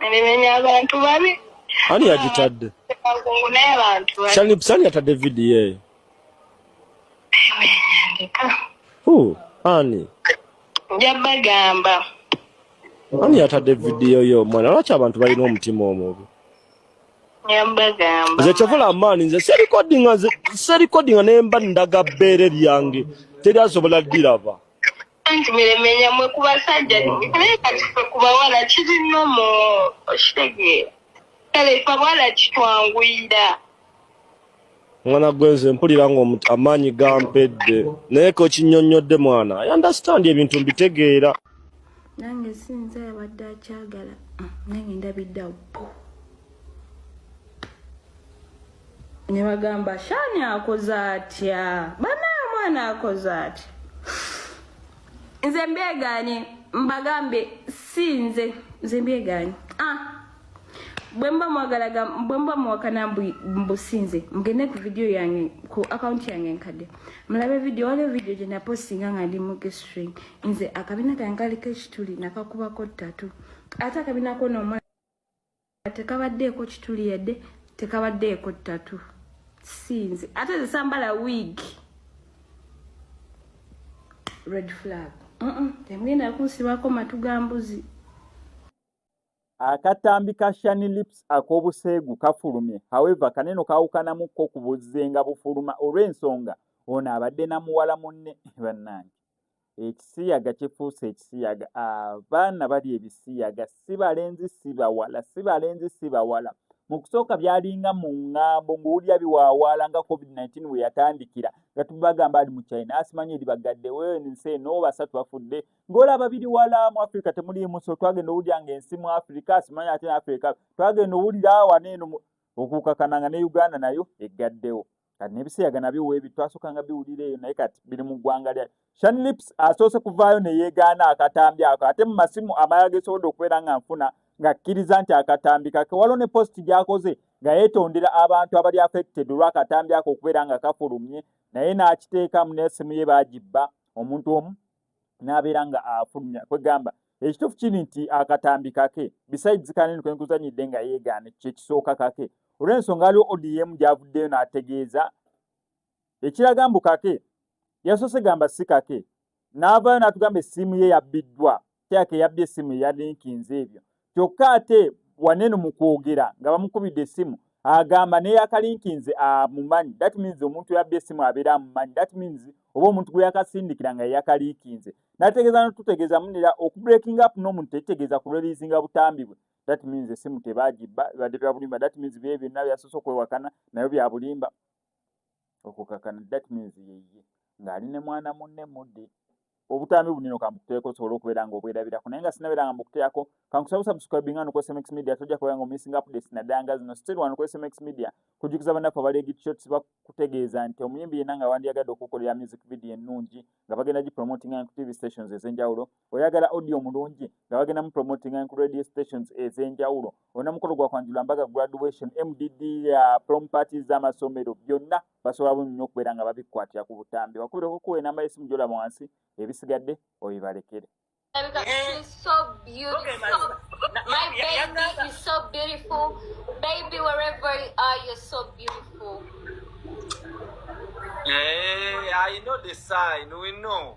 Nemenya abantu babi. Ani yagitadde? Sani sani yatadde vidiyo eyo. Hu, ani? Njabagamba. Ani yatadde vidiyo yo mwana lwaki abantu balina omutima omubi? Njabagamba. Nze kyovola amaani nze serikodinga nze serikodinga ne mba ndaga bbeere lyange teri asobola liraba. anti miremenya mwe ku basajja naye kati fe ku bawala kiri nomo okitegeera kale fe abawala kitwanguyira mwana gwe nze mpulira nga amaanyi gampedde naye ko kinyonnyodde mwana i understand ebintu mbitegeera nange sinza yabadde akyagala ah, nange ndabiddawo ne bagamba shani akoze atya banaa omwana akoze atya nze mbyeganye mbagambe si nze nze mbyeganye ah bwemba mwagalaga bwemba muwakana mbusinze mugende ku video yange ku account yange nkadde mulabe video waliwo video gye napostinga nga ndi mu gestring nze akabina kange kaliko ekituli nakakubako ttatu ate akabina kona omwana tekabaddeeko kituli yadde tekabaddeeko ttatu sinze ate zisambala wig red flag temugenda kunsibako matu ga mbuzi akatambi ka shani lips ak'obuseegu kafulumye however kaneno kawukanamu ko ku buzzenga bufuluma olw'ensonga ono abadde na muwala munne bannange Ekisiyaga kifuuse ekisiyaga. Abaana ah, bali ebisiyaga, si balenzi si bawala, si balenzi si bawala. Mu kusooka byalinga mu ŋŋambo ng'owulira biwaawaala nga COVID-19 we yatandikira nga tubagamba ali mu China asimanyi eri bagadde wense n'o basatu bafudde ng'olaba biri wala mu Afirika temuliimu so twagenda owulira ng'ensi mu Afirika asimanyi ate Afirika twagenda owulira wano eno okukakananga ne Uganda nayo eggaddewo. kati nebisiyaga nabyo webi twasokanga biwulira eyo naye kati biri mu ggwanga lya shan lips asoose kuvaayo neyegaana akatambi ako ate mu masimu amala gesobodde okubeera nga nfuna ng'akkiriza nti akatambi kake waliwo ne positi gyakoze nga yeetondera abantu abali affected olw'akatambi ako okubeera nga kafulumye naye n'akiteekamu n'essimu ye baagibba omuntu omu n'abeera nga afulumya kwegamba ekituufu kiri nti akatambi kake besides kanene kwenkuzanyidde nga yeegaana kyekisooka kake olw'ensonga aliwo odm gyavuddeyo n'ategeeza ekiraga mbu kake yasoose gamba si kake n'avaayo n'atugamba essiimu ye yabbiddwa kyake yabbye essiimu eyalinkinze ebyo kyokka ate waneno mu kwogera nga bamukubidde essimu agamba neyakalinkinze amumanyi that means omuntu yabba essimu abeera amumanyi that means oba omuntu gwe yakasindikira nga yeyakaliikinze nategeeza notutegeeza munera okubreaking up n'omuntu tekitegeeza kureliizinga butambi bwe that means essimu tebagibba ebadde byabulimba that means bye byonna byasoose okwewakana nayo byabulimba okukakana that means yeye ng'ali ne mwana munne mudde obutambi bunino kambukuteeko osobole okubeera nga obwerabirako naye nga sinabeera nga mbukuteako kankusaba subscribing ano ku sms media tojja kubeera nga omissing updates naddala nga zino still wano ku sms media kujukiza bannaffe abali egitshots bakutegeeza nti omuyimbi yenna nga wandiyagadde okukolera music video ennungi nga bagenda gipromotinga ku tv stations ez'enjawulo oyagala audio omulungi nga bagenda mu promoting and radio stations ez'enjawulo olina mukolo gwa kwanjula mbaga graduation mdd ya prom parties z'amasomero byonna basobola bu nnyo okubeera nga babikwatira ku butambi wakubireko kuwa enamba y'essimu gyolaba wansi ebisigadde obibalekere She's so beautiful. My baby is so beautiful. Baby, wherever you are, you're so beautiful. Hey, I know the sign. We know.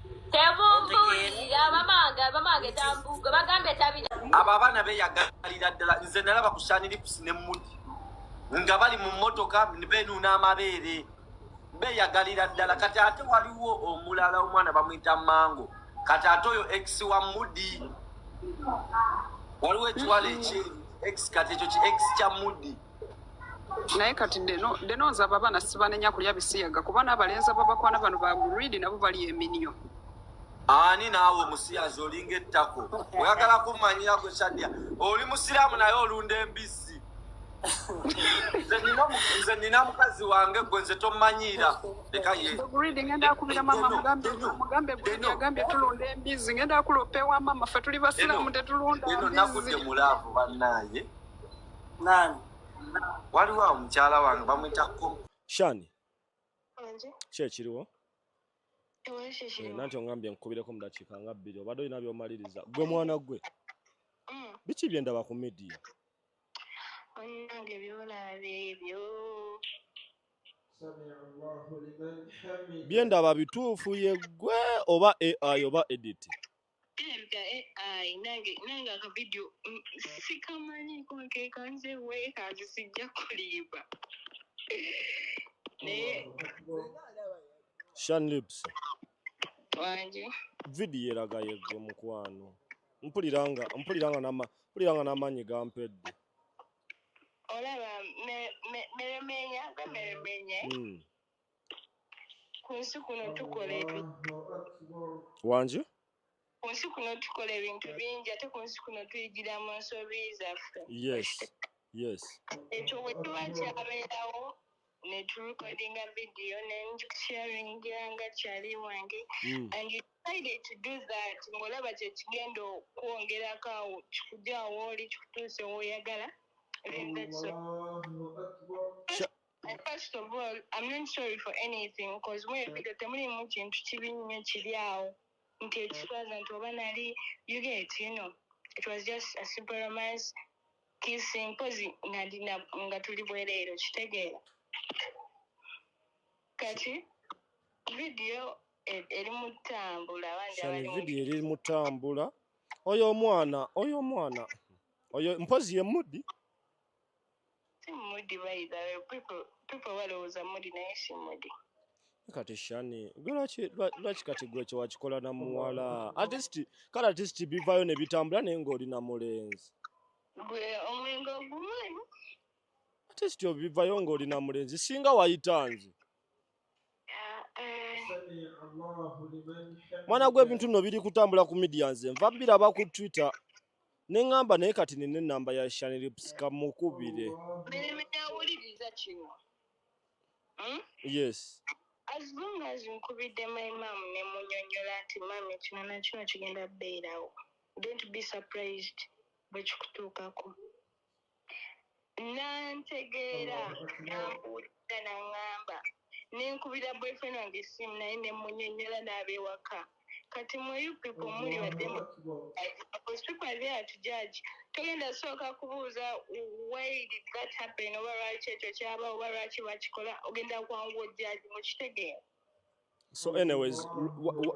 abo abaana beyagalira ddala nze nalaba ku shanilipusi ne mudi nga bali mu motoka benuuna amabeere beyagalira ddala kati ate waliwo omulala omwana bamwita mango kati ate oyo ex wa mudi waliwo ekiwala ekyeru ex kati ekyo ki ex kya mudi mm -hmm. naye kati deno nzaba abaana sibanenya kulya bisiyaga kuba nabalenzi ababakwana bano bagrid nabo bali eminyo ani naawe omusiyazi olinga ettako oyagala kumanyira gwe sadya oli musiraamu naye olunda embizzi nze nina mukazi wange gwe nze tomanyiira leka ye ngenda akubira mama mugambe mugambe gwe yagambye tulunda embizzi ngenda akulopewa mama fe tuli basiraamu tetulunda eno nakudde mulaavu bannaaye nani waliwo awo mukyala wange bamwita ko shani ki ekiriwo eh, nanti ongambye nkubireko mu dakiika nga bbiri obadde olina byomaliriza gwe mwana gwe mm. biki byendaba ku midiya byendaba bituufu yeggwe oba ai oba editi Kirabika AI nange nange akavidiyo mm, sikamanyiko nkeeka nze weekazi sijja kulimba naye shanlips wangi vidiyo eraga yegwe mukwano mpulira nga mpulira nga nama mpulira nga n'amaanyi gampedde olaba me- me- meremenya gwe meremenya Mm. ku nsi kuno tukola wangi ku nsi kuno tukola ebintu bingi ate ku nsi kuno tuyigira mu nsobi zaffe yes yes ekyo bwe tuba kyabeerawo ne turecordinga video ne sharinga nga kyali wange hmm. and you decided to do that ng'olaba kye kigenda okwongerako awo kikujawo oli kikutuuse wooyagala Uh, first of all, I'm not sorry for anything because mwe video temulimu kintu kibi nnyo kiri awo nti ekiswaza nti oba nali you get you know it was just a simple romance kissing mpozi nali na- nga tuli bwereero kitegeera kati video e- eri mu ttambula abandi shani abali mu video eri mutambula oyo omwana oyo omwana oyo mpozi ye mudi Simudi by the way people people balowooza mudi naye simudi. kati shani gwe lwaki lwaki kati gwe kye wakikola na muwala at least kale at least bivayo ne bitambula naye ng'oli na mulenzi gwe omwenge ogumanyi at least obivayo ng'oli na mulenzi singa wayita nze mwana gwe ebintu bino biri kutambula ku medians nva biraba ku twitter ne ŋŋamba naye kati nina ennamba ya shanilips kamukubire hmm? yes as long as nkubidde my mam ne munyonyola nti mam ekino nakino kigenda beerawo don't be surprised bwekikutuukako nantegeera nambuulira naŋŋamba ne nkubira boyfriend wange essimu naye ne munyonyola n'abewaka kati mwe you people muli bademu because people are there to judge togenda sooka kubuuza why did that happen oba lwaki ekyo kyaba oba lwaki bakikola ogenda kwanguwa ojjaji mukitegeera so anyways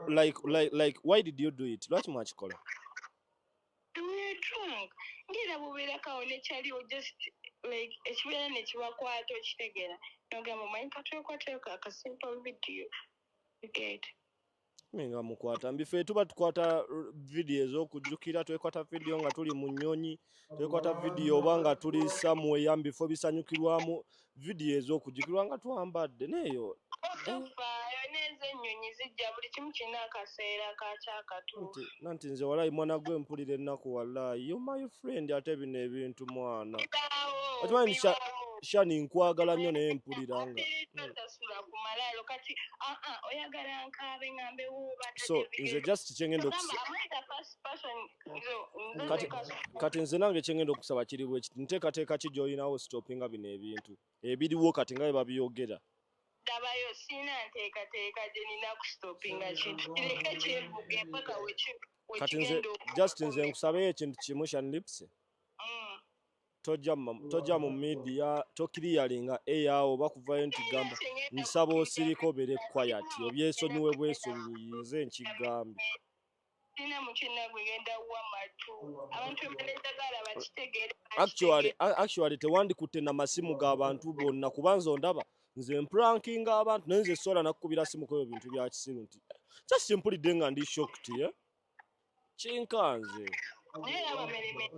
like, like, like why did you do it lwaki mwakikola Weetrong ngera bubeerakawo ne kyaliwo just like ekibeera nekibakwata okitegera nogamba omanyi katwekwateko akasimple video get nga mukwata mbife tuba tukwata vidiyo ez'okujjukira twekwata vidiyo nga tuli mu nnyonyi twekwata vidiyo oba nga tuli samueya mubifo bisanyukirwamu vidiyo ez'okujjukirwa nga twambadde neeyo tofaayo neeza ennyonyi zijja buli kimu kirina akaseera kakyo akatuufu nanti nze walayi mwana gwe mpulira ennaku walayi yo my friend ate bino ebintu mwana okimanyi shani nkwagala nnyo naye mpulira nga so nze just kyengenda okusa kati kati nze nange kyengenda okusaba kiri bwe kiti nteekateeka ki gy'olinawo sitopinga bino ebintu ebiriwo kati nga bye babiyogera dabayo siina nteekateeka gye nina kusitopinga kintu kireke kyevuga empaka kati nze just nze nkusabeyo ekintu kimu shan lips mm. tojja mu midiya tokiriyalinga eyaawo oba kuvayo nti gamba nsaba osirika obere kwayati obyesonyiwe bwesubiyize nkigambye Sina mukyina gwe genda wa matu. Abantu emaneza gala bakitegere. Actually, actually tewandikutte na masimu ga bantu bonna kubanza ondaba nze mprankinga abantu naye nze sola nakukubira simu kweyo bintu bya kisiru nti just simply denga ndi shocked ye eh? kinkanze. Naye abameremere.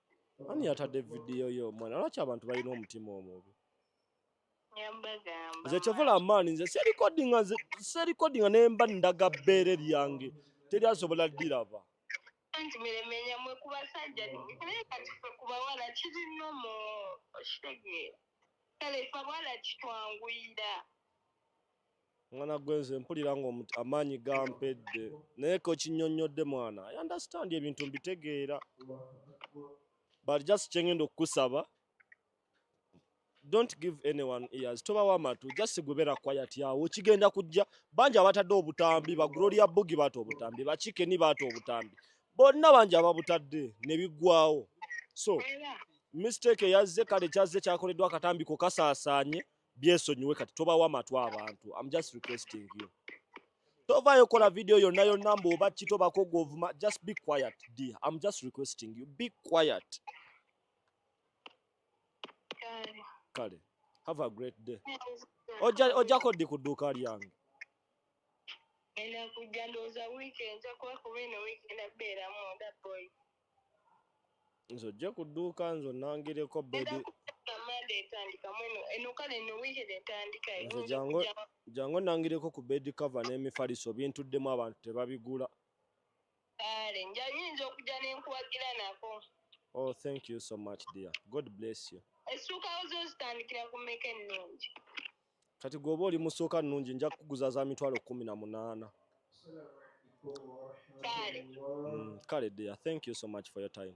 Ani yatadde video yo mwana lwaki abantu balina omutima omubi? Nze kyovola amaani nze serikodinga nze serikodinga ne mba ndaga bbeere lyange teri asobola liraba. Anti miremenya mwe ku basajja naye kati ffe ku bawala kiri nomo okitegeera kale ffe abawala kitwanguyira. mwana gwe nze mpulira nga amaanyi gampedde naye ko kinyonnyodde mwana i understand ebintu mbitegeera but just kyengenda okukusaba don't give anyone ears tobawo amatu just gubera quiet yawo kigenda kujja bangi abatadde obutambi ba gloria bugi baata obutambi bakike ni baata obutambi bonna bangi ababutadde ne biggwawo so mistake eyazze kale kyazze kyakoleddwa akatambi ko kasaasaanye byesonyiwe kati tobawa matwa abantu I'm just requesting you tovayo kola video yonna yonna mbu oba ki tobako govuma just be quiet dear I'm just requesting you be quiet kale have a great day ojako ddi ku dduuka lyange nze ojje ku dduuka nze onnangireko bebi nze jangu onnangireko ku bedi kava n'emifaliso bintuddemu abantu tebabigula kale nja nyinza okujja ne nkuwagira nako oh thank you so much dear god bless you essuuka zo zitandikira ku mmeka ennungi kati gwoba oli musooka nungi nja kukuguza za mitwalo kumi na munaana kale mm, dear thank you so much for your time